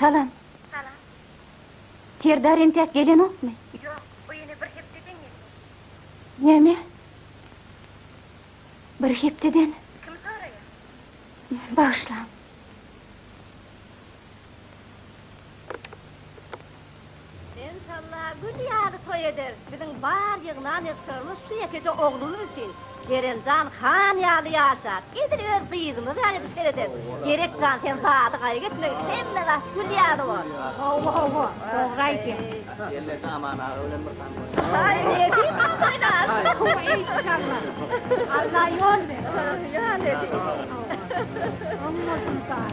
Salam. Salam. Serdar entäk gelenokmy? Ýok, bu ýene bir hepdeden geldi. Näme? Bir hepdeden? Kim soraýar? Bagyşlaň. Enşalla gül ýaly toý ederis. Biziň bar ýygnan ýygşarymyz şu ýekeje oglumyz üçin. Jeren jan han ýaly ýaşar. Edil öz gyzymyz ýaly edip serederis. Gerek jan sen zady gaýgy etmegin. Hemme zat gül ýaly bor. Hawa hawa dogry aýdýaň. Gelneje Aman aga bilen bir sany oýna. Aý nebis saz oýnar. Enşalla. Alla ýol bersin. Ýa nebis. Hawa. Öň bolsun saz.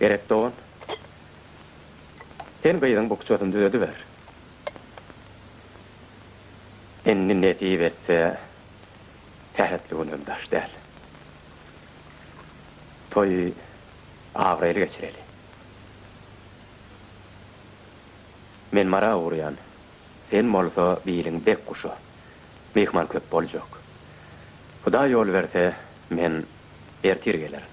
Gerek dogan. Sen gyzyň bukjasyny düzediber. Indi nesip etse, sähetli gün hem daş däl. Toýy abraýly geçireli. Men mara urýan, sen bolsa biliň dek guşa. Myhman köp boljak. Hudaý ýol berse, men ertir gelerin.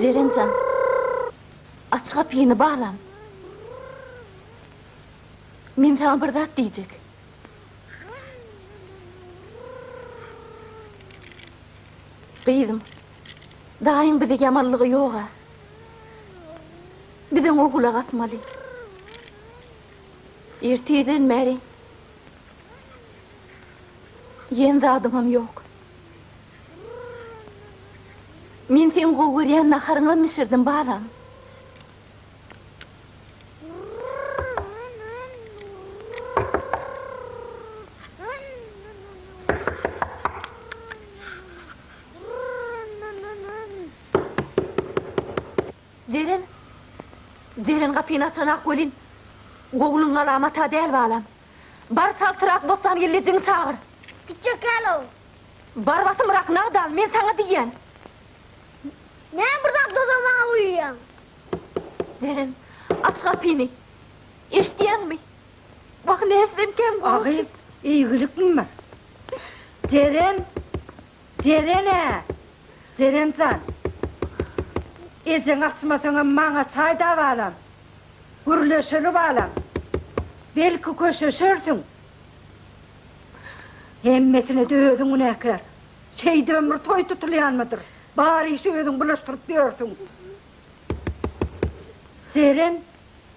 Jeren jan, aç gapyny balam. Men saňa bir zat diýjek. Gyzym, daýyň bize ýamanlygy ýog-a. Biz oňa gulak asmaly. Ertirden bäri iýen zadyňam ýok. Men seň gowy görýän naharyňam bişirdim, balam. Jeren! Jeren gapyny açanak welin, gowluň galamata däl balam. Bar çaltyrak Bossangeldijiňi çagyr. Gitjek däl ol. Bar basymrak nagt al, men saňa diýýän. Näme bir zat dodamaňa guýýaň? Jeren, aç gapyny. Eşidýäňmi? Wah, näsem kän gowşut. Agyz, eýgilikmi bar? Jeren! Jeren-ä! Jeren jan! Ejeň açmasaňam maňa çaý dabalam. Gürleşeli balam. Belki köşeşersiň. Hemmesine-de özüň günäkär. Şeýdibem bir toý tutulýanmydyr? Bar işi özüň bulaşdyryp ýörsüň. Jeren,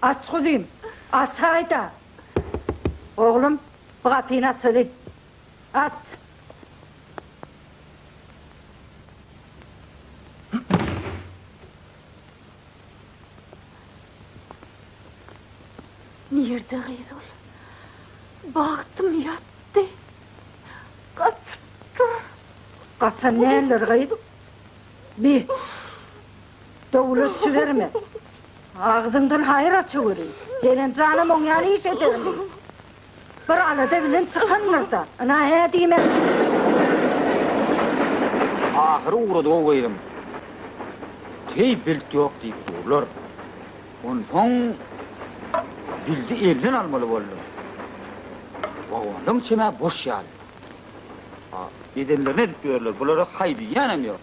aç guzym, açaý-da! Oglum, bu gapyny açaly. Aç! Nirde gyz ol? Bagtym ýatdy. Gaçypdyr. Gaçan däldir gyz. Bi. Dowlet jiberme. Agzyňdan haýyr aça görüň. Jelent janam oň ýaly iş edermi? Bir alada bilen çykandyr-da. Ynha hä diýmän. Ahyry ugrady-ow gyzym. Heý bilt ýok diýip durlar. Onsoň jildi elden almaly boldum. Wagondan çemä boş ýaly. A, edenlerini edip ýörler, bulara haý diýýänem ýok.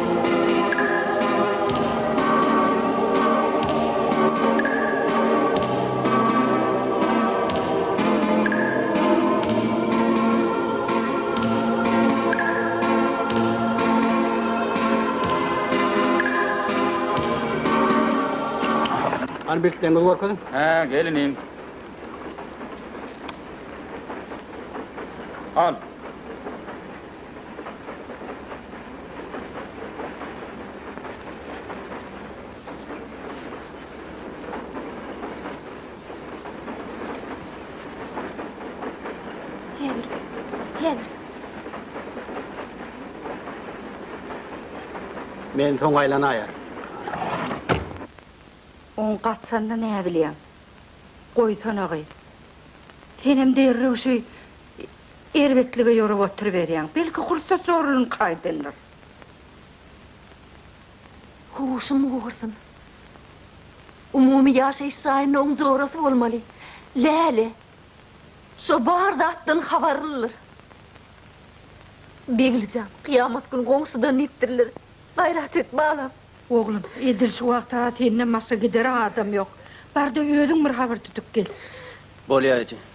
Hany bileklerimizi görkeziň. Hä, gel inim. Al. Men soň aýlanaýa. Oň gaçanyny näbilýäň? Goýsana gyz. Senem derrew şeý Erbetlige ýorup oturyberýäň. Belki gursat zorlunyňky aýdyndyr. Huşum gursyn. Umumy ýaşaýyş jaýynyň jorasy bolmaly. Läle şo bar zatdan habarlydyr. Begli jan, kyýamat gün goňşudan netdiriler. Gaýrat et, balam. Oglum, edil şu wagta senden başga gidere adam ýok. Bar-da özüň bir habar tutup gel. Bolýar eje.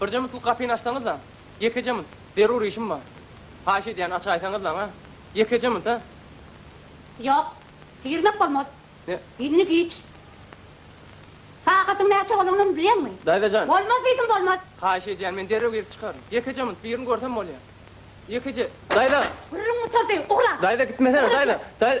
Birje minutlyk gapyny açsaňyzlaň, ýekeje minut, zerur işim bar. Haýyş edýän, açaýsaňyzlaň, a? Ýekeje minut, a? Ýok, girmek bolmaz. Ne? Indi giç. Sagatyň näçe bolandygyny bilýäňmi? Daýza jan! Bolmaz diýdim, bolmaz! Haýyş edýän, men derrew girip çykaryn. Ýekeje minut, birini görsem bolýa. Ýekeje. Daýza! Gürrüň gutarsy, ugra! Daýza, gitmesene, daýza! Daý.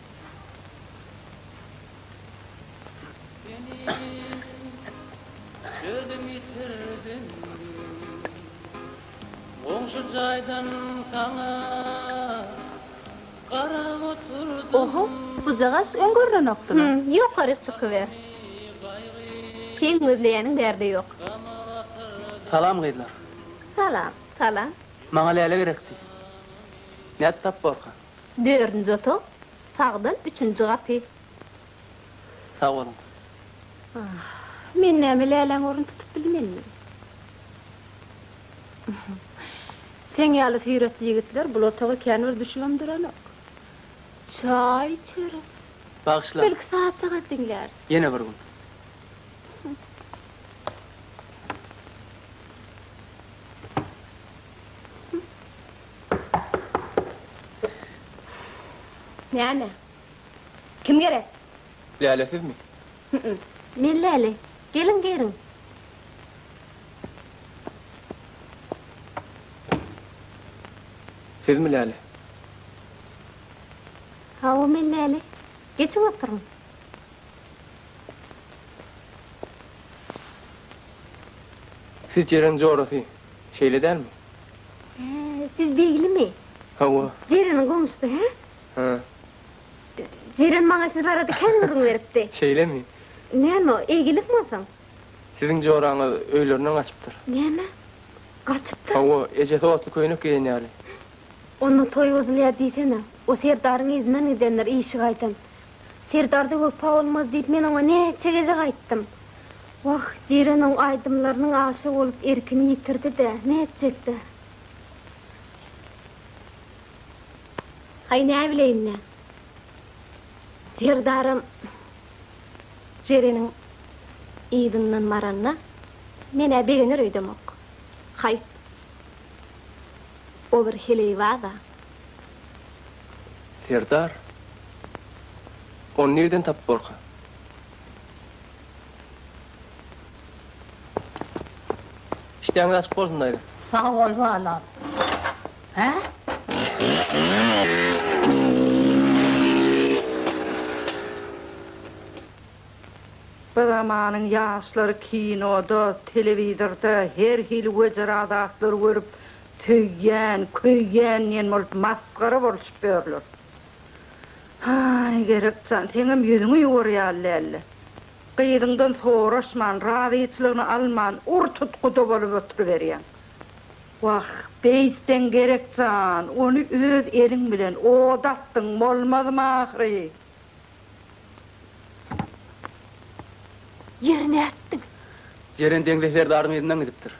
Oho, bujagaş öň görnenokdymy? Hüm, ýokaryk çykyber. Seň gözleýäniň bärde ýok. Salam, gyzlar. Salam, salam. Maňa Läle gerekdi. Nädip tapyborkaň? Dördünji otag, sagdan üçünji gapy. Sag boluň. Ah, men näme Läläň orun tutup bilmenmi? Seň ýaly süýretli ýigitler bul otaga kän bir düşübem duranok. Çaý içeris. Bagyşlaň. Belki sazjagaz diňläris. Ýene bir gün. Näme? Kim gerek? Läle sizmi? Hü-ü. Men Läle. Geliň giriň. Sizmi Läle? Hawa, men Läle. Geçiň oturyň. Siz Jeren jorasy, şeýle dälmi? He, siz Beglimi? Hawa. Jereniň goňşusy, hä? Hä. Jeren maňa siz barada kän gürrüň beripdi. Şeýlemi? Näme o, eýgilik bolsaň? Siziň joraňyz öýlerinden gaçypdyr. Näme? Gaçypdyr? Hawa, ejesi otly köýnek geýen ýaly. Onda toý bozulýar diýsene. O serdaryň yzyndan gidendir, işi gaýdan. Serdarda wepa bolmaz diýip men oňa näçe gezek aýtdym. Wah, Jiren oň aýdymlarynyň aşygy bolup erkini ýitirdi-dä, nätjek-dä. Haý näbileýin-dä. Serdaram Jireniň yzyndan baranda men-ä begener öýdemok. Haý, o bir heleýbaz-a. Serdar, ony nireden tapyp borka? Işdäňiz açyk bolsun, daýza. Sag bol, balam. Hä? Bir zamanyň ýaşlary kinoda, telewizorda her hili wejera zatlar görüp, Söýýän, köýýän diýen bolup masgara bolşup ýörler. Haý, Gerek jan, seňem ýüzüňi ýuwar ýaly däldi. Gyzyňdan soraşman, razyçylygyny alman ur tut guda bolup oturyberýäň. Wah, beýtseň Gerek jan, ony öz eliň bilen oda atdyň bolmazmy ahyry? Ýeri nätdiň? Jeren Deňze serdarynyň yzyndan gidipdir.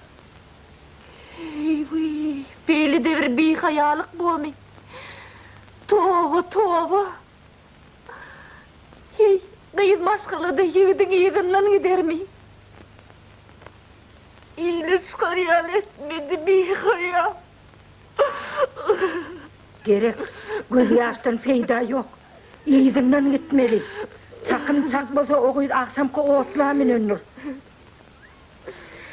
Eý-wi, beýle-de bir bihaýalyk bomy? Toba, toba! Heý, gyz maşgala-da ýigidiň yzyndan gidermi? Eýle çykar ýaly etmedi bihaýa. Gerek, gözýaşdan peýda ýok. Yzyndan gitmeli. Çakym çak bolsa o gyz agşamky otla münendir.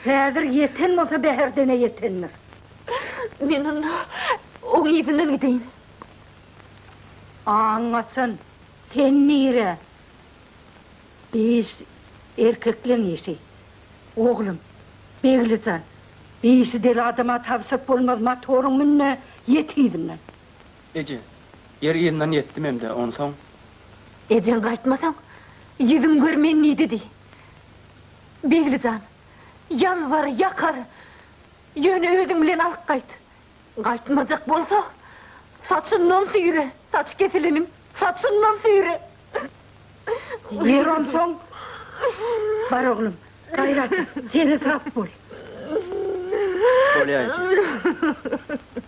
Häzir ýeten bolsa Bäherdene ýetendir. Men onda oň yzyndan gideýin. Aňňaçan, sen nirä? Biş erkekleň işi. Oglum, Begli jan, bişi deli adama tabşyryp bolmaz, motoryň mün-de, ýet yzyndan. Eje, ýer yzyndan ýetdim hem-de, onsoň? Ejeň gaýtmasaň, ýüzüň görmeýin diýdi diý. Begli jan, ýalbar, ýakar, ýöne özüň bilen alyp gaýt. Gaýtmajak bolsa, saçyndan süýre, saç kesileniň saçyndan süýre. Ýeri onsoň, bar oglum, gaýrat et, seni-sap bol. Bolýaýjy.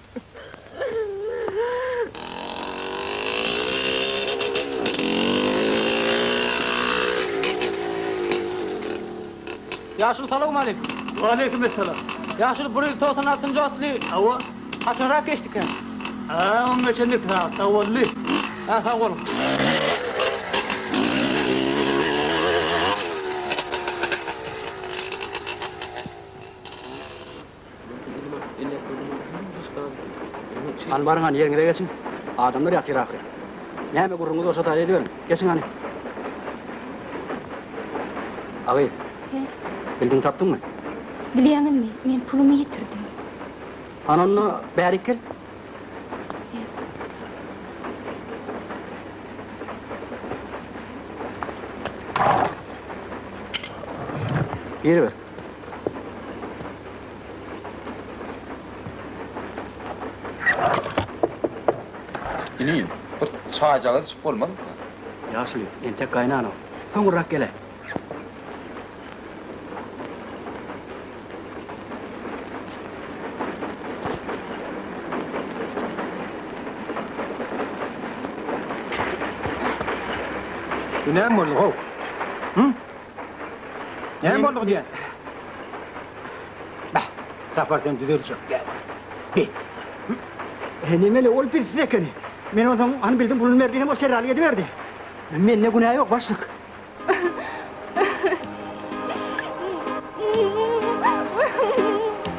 Ýaşuly salawmaleýkim. Waleýkim essalam. Ýaşuly bu reýl togsan altynjy otly. Hawa. Haçanrak geçdikä? Hä, oň geçen iki sagatda boldy. Hä, sag boluň. Hany baryň hany ýeriňize geçiň. Adamlar ýatyr ahyry. Näme gürrüňiz bolsa taý ediberiň. Geçiň hany. Agy. He. Bildiň tapdyňmy? Bilýäňizmi, men pulumy ýitirdim. Hany onda bärik gel. Giriber. Ini, bir çaýjagaz içip bolmazmy? Ýaşuly, entek gaýnanok. Soňurrak gel-ä. Bu näme boldy-how? Hü? Näme boldy diýen? Bäh, Sapar sen düzeljek däl. Bi. He nemeli ol bizsiz ekeni. Men onsoň hany bildim puluny berdi hem o şeralyk ediberdi. Mende günä ýok başlyk.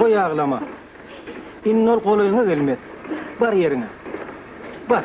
Goý aglama. Indi ol golaýyňa gelmez. Bar ýeriňe. Bar.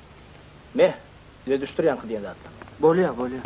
Meh, özüşdir ýaňky diýen zatlaň. Bolýa, bolýa.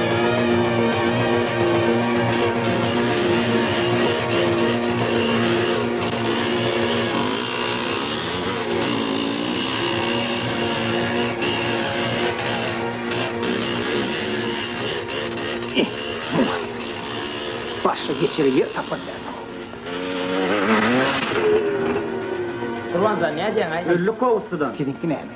Başga geçere ýer tapan däldir. Gurbanjan nädýäňaý? Öldük gowuslydan. Siziňki näme?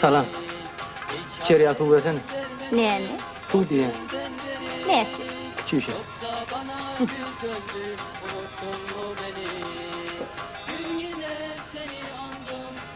Salam. İçeri ýa suw bersene. Näme? Suw diýýän. Näsi? Kiçi bir şey.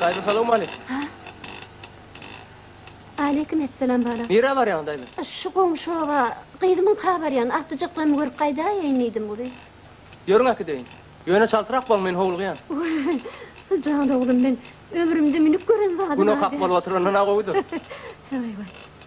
Daýza salowmaleýkim. Ha. Aleýkim essalam balam. Nirä barýaň daýza? Şu goňşy oba gyzymyň ka barýan agtyjaklaryny görüp gaýdaýaýyn diýdim gury. Ýörüň äkideýin. Ýöne çaltyrak boň men howlugýan. Wah jan oglum men ömrümde münüp gören zadym a. Gün okap bolup oturandan a gowudyr. Waý waý.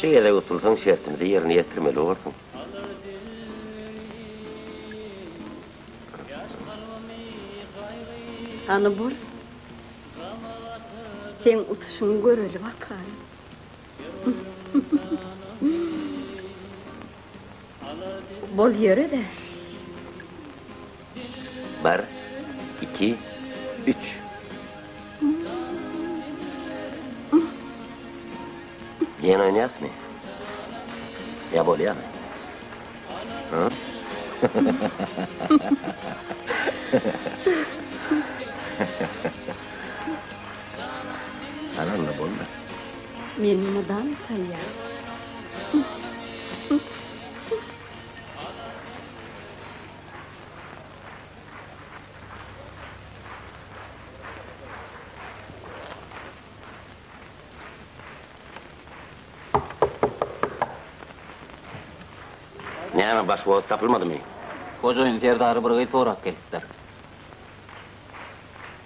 Şu gezek utulsaň şertimizi ýerine ýetirmeli borsuň. Hany bor. Seň utuşyňy göreli bakalym. Bol ýöre-de. Bir, iki, üç. Diýen oýnaýasmy? Ýa bolýamy? Hä? Ana onda boldy. Men mydam salýar. Näme, başboz tapylmadymy? Hojaýyn serdary bir gyz sorap gelipdir.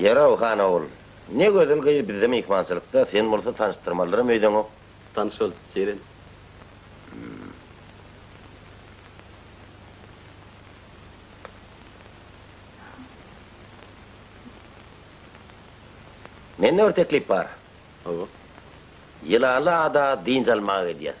Ýör-ow, han ogul. Ne gözel gyz bizde myhmançylykda, sen bolsa tanyşdyrmalyram öýdeňok. Tanyş bol, Jeren. Mende bir teklip bar. Hawa. Ýylanly ada dynç almaga gidýäs.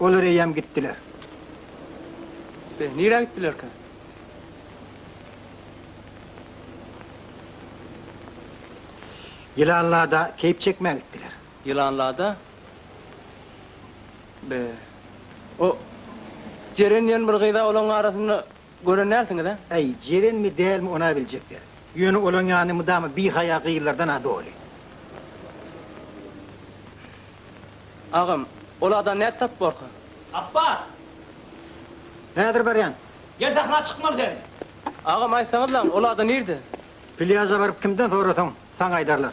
Olar eýýäm gitdiler. Be, nirä gitdilerkä? Ýylanlada keýp çekmä gitdiler. Ýylanlada? Be, o Jeren diýen bir gyz-a olaryň arasynda Gören dälsiňiz-ä? Äý, jerenmi, dälmi, ony-a biljek der. Ýöne olaň ýany mydama bihaýa gyzlardan-a doly. Agam, ol adam nädip tapyp borka? Apbat! Häzir barýan. Gel sähra çykmaly sen. Agam, aýtsaňyzlaň, ol adam nirde? Plýaža baryp kimden sorasaň, saňa aýdarlar.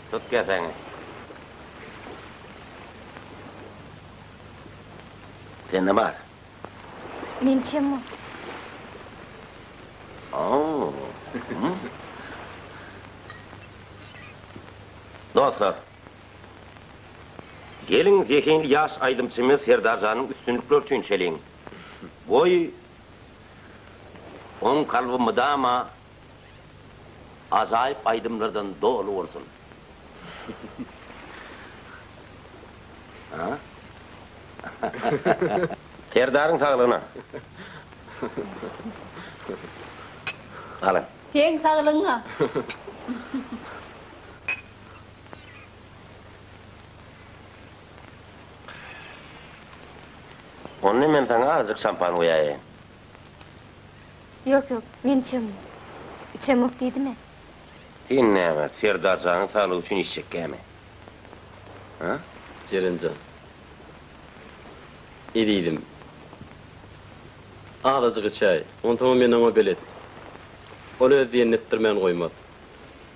Tut keseňi. Sende bar. Men çemmo. Dostlar! Geliň zehinli ýaş aýdymçymyz Serdarjanyň üstünlikleri üçin içeliň. Goý, oň kalby mydama Ajaýyp aýdymlardan doly bolsun. Serdaryň saglygyna. Alyň. Seň saglygyňa. Onda men saňa azjyk şampan guýaýaýyn. Ýok, ýok, men içemok. Içemok diýdim-ä. Sen näme, Serdar janyň saglygy üçin içjekkämi? A? Jeren jan. Ezizim. Azajyk içäý. Onsoňam men oňa belet. Ol öz diýenini etdirmän goýmaz.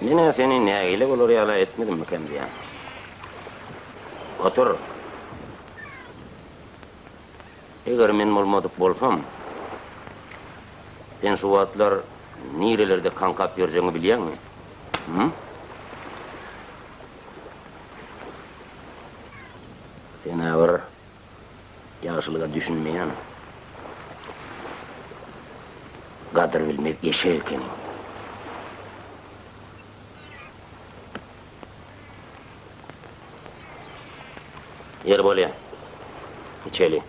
Men-ä seni nägile bolar ýala etmedimmikäm diýýän. Otur. Eger men bolmadyk bolsam, sen şu wagtlar nirelerde kaňkap ýörjegiňi bilýäňmi? Hü? Sen-ä bir Ýagşylyga düşünmeýän gadyr bilmez eşek ekeniň. Ýeri bolýa. Içeli.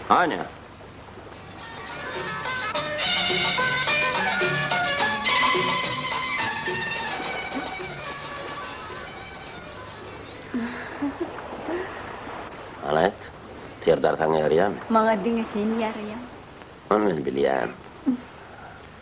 Anya. Aýt, Serdar saňa ýaraýamy? Maňa diňe sen ýaraýaň. Ony men bilýän.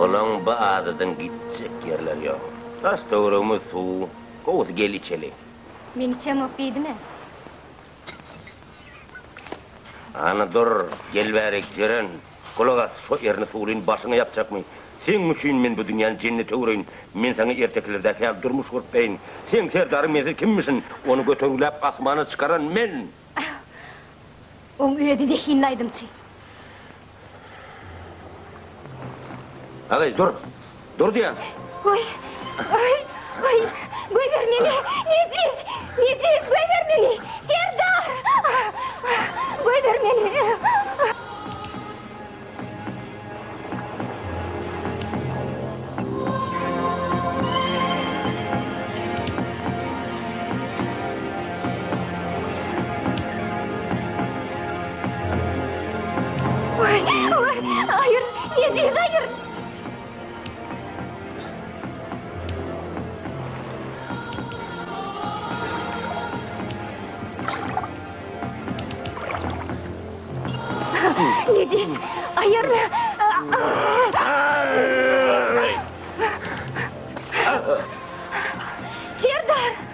Olaň bu adadan gitjek ýerleri ýok. Daş-töweregimiz suw. Gowusy gel içeli. Men içemok diýdimä. Hany dur, gel bärik, Jeren. Gulak as, şo erini suwlyn başyňa ýapjakmy? Seň üçin men bu dünýäni jennet öwreýin. Men saňa ertekilerdäki ýaly durmuş gurup beýin. Seň serdaryň mensiz kimmişin? Ony götergiläp asmana çykaran men! Oň özi zehinli aýdymçy. Agaý, dur! Dur diýýän. Goý. Goý. Goý. Goýber meni. Nejis. Nejis. Goýber meni. Serdar. Goýber meni. Necip, ayırma. Serdar!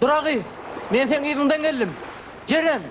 Duragy, men seň yzyňdan geldim. Jeren!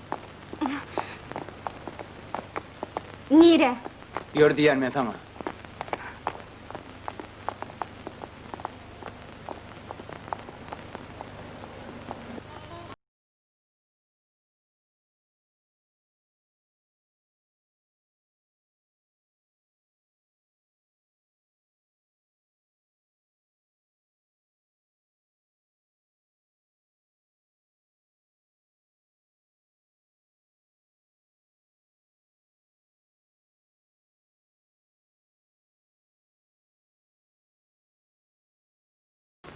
Nirä? Ýör diýýän men saňa.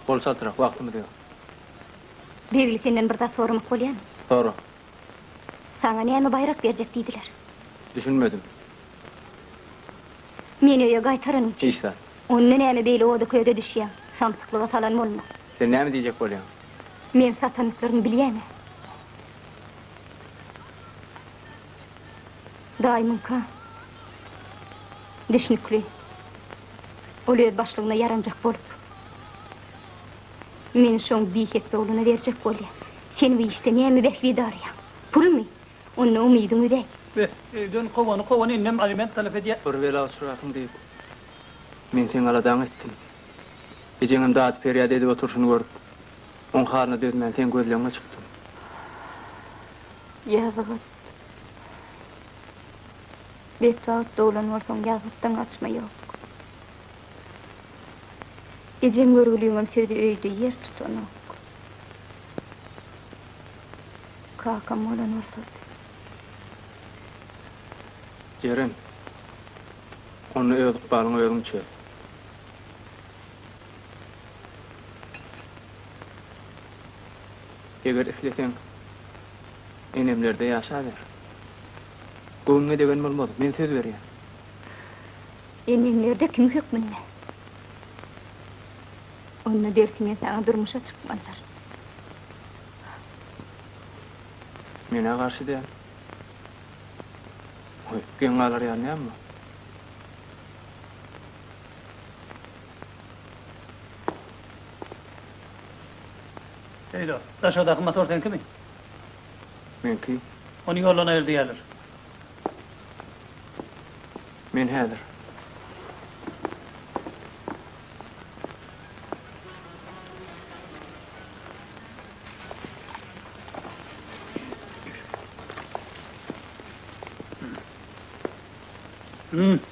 Bol çaltrak, wagtymyz ýok. Begli senden bir zat soramak bolýamy? Sora. Saňa näme baýrak berjek diýdiler? Düşünmedim. Meni öýe gaýtaranyň üçin. Hiç zat. Onda näme beýle oda-köze düşýäň? Samsyklyga salan bolma. Sen näme diýjek bolýaň? Men satanlyklaryny bilýän-ä. Daýymyňka düşnükli. Ol öz başlygyna ýaranjak bolup, meni şoň biýhekdi ogluna berjek bolýa. Sen bu işde näme bähbit araýaň? Pulmy? Onda umydyň üzäý. Beh, öýden kowany kowan innem aliment talap edýä. Bir bela uçrarsyň diýip, men seň aladaňy etdim. Ejeňem dady-perýat edip oturyşyny görüp, oň halyna dözmän, seň gözleňňe çykdym. Ýazgyt. Betbagt doglan bolsaň, ýazgytdan gaçma ýok. Ejeň görgüliňem sözi öýde ýer tutanok. Kakam bolan bolsady. Jeren, onda öz ykbalyňy özüň çöz. Eger isleseň, enemlerde ýaşaber. Göwnüňe degen bolmaz, men söz berýän. Eneňlerde kim hökmünde? Onda belki men saňa durmuşa çykmazlar. Men-ä garşy däl. Geň galar ýaly näme bar? Söýlo, daşardaky motor seňkimi? Meňki. Ony ýoldan aýyr diýýärler. Men häzir. Hmm.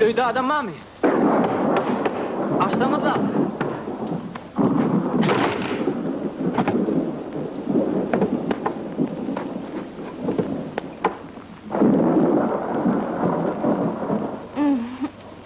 Öýde adam barmy? Açsaňyzlam!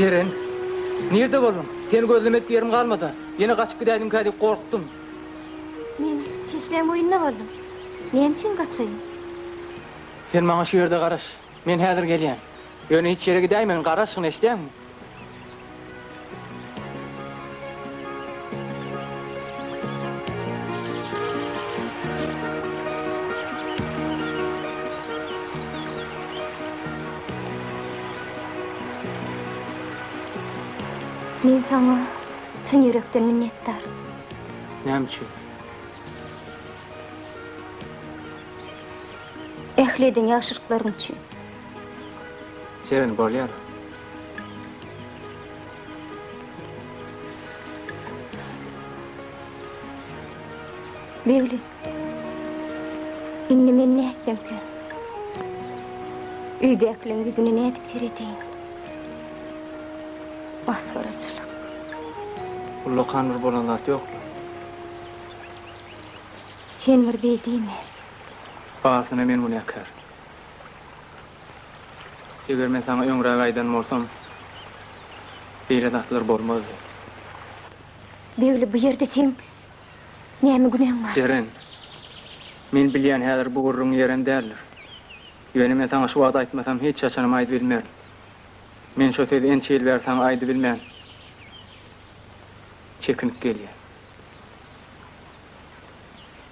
Jeren, nirde bolduň? Seni gözlemedik ýerim galmada. Ýene gaçyp gidäýdiňkä diýip gorkdum. Men çeşmäň boýunda boldum. Näme üçin gaçaýyn? Sen maňa şu ýerde garaş. Men häzir gelýän. Ýöne hiç ýere gidäýmegin, garaşgyn, eşidäňmi? Men saňa çyn ýürekden minnetdar. Näme üçin? Ähli eden ýagşylyklaryň üçin. Şeýle bolýar. Begli. Indi men nätsemkä? Öýdäkileriň ýüzüne nädip seredeýin? Masgaraçylyk. Ullakan bir bolan zat ýokmy? Sen bir beý diýme. Barsyna men günäkär. Eger men saňa öňräk aýdan bolsam, beýle zatlar bolmazdy. Begli, bu ýerde seň näme günäň bar? Eren, men bilýän häzir bu gürrüň ýerem däldir. Ýöne men saňa şu wagt aýtmasam hiç haçanam aýdybilmerin. Men şo sözi ençe ýyl bäri saňa aýdybilmän çekinip gelýän.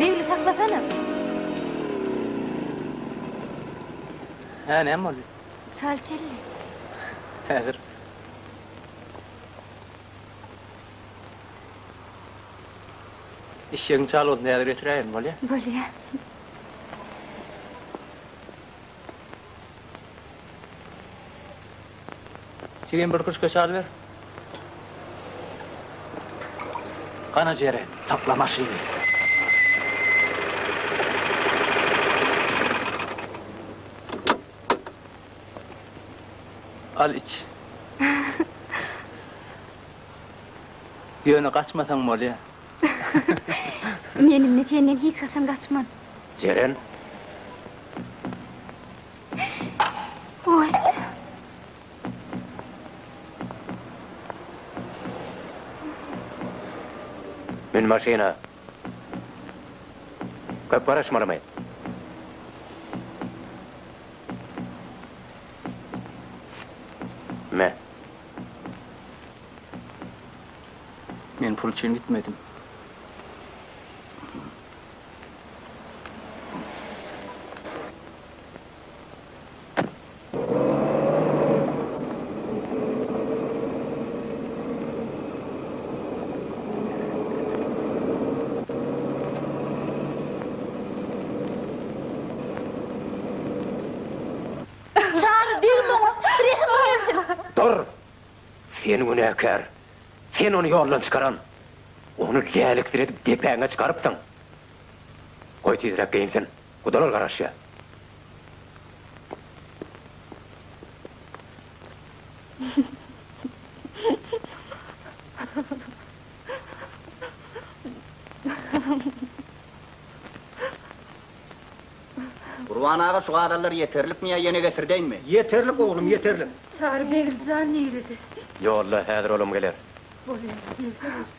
Begli saklasana. Hä, näme boldy? Çal çelle. Häzir. Işşegiň çal bolsun, häzir getiräýerin, bolýa? Bolýa. Jigim bir kruşka çaý ber. Gana jere, sakla maşyny. Al iç. Ýöne gaçmasaň bolýa. Men indi senden hiç haçan gaçman. Jeren. Oý. Mün maşyna. Köp garaşmalymy? Me. Men pul üçin gitmedim. Jany degme oňa, rehimi gelsin! Dur! Sen günäkär! Sen ony ýoldan çykaran. Ony läliksiredip depäňe çykarypsyň. Goý tizräk geýinsin. Gudalar garaşýar. Gurban aga şu gazallar ýeterlikmi ýa ýene getirdeýinmi. Ýeterlik oglum ýeterlik. Çary begim jan nirede. Ýolda häzir olam geler. Bolýar gelse bolsun.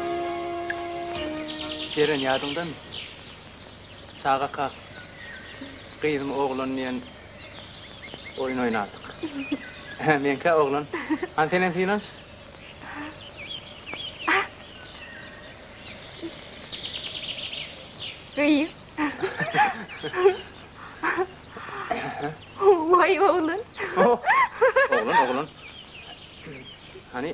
Eren ýadyňdamy? Çagaka, gyzmy, oglanmy diýen oýun oýnardyk. Hä, meňkä oglan. Hany senem synanyş. Gyz. Waý, oglan. Oglan, oglan. Hany,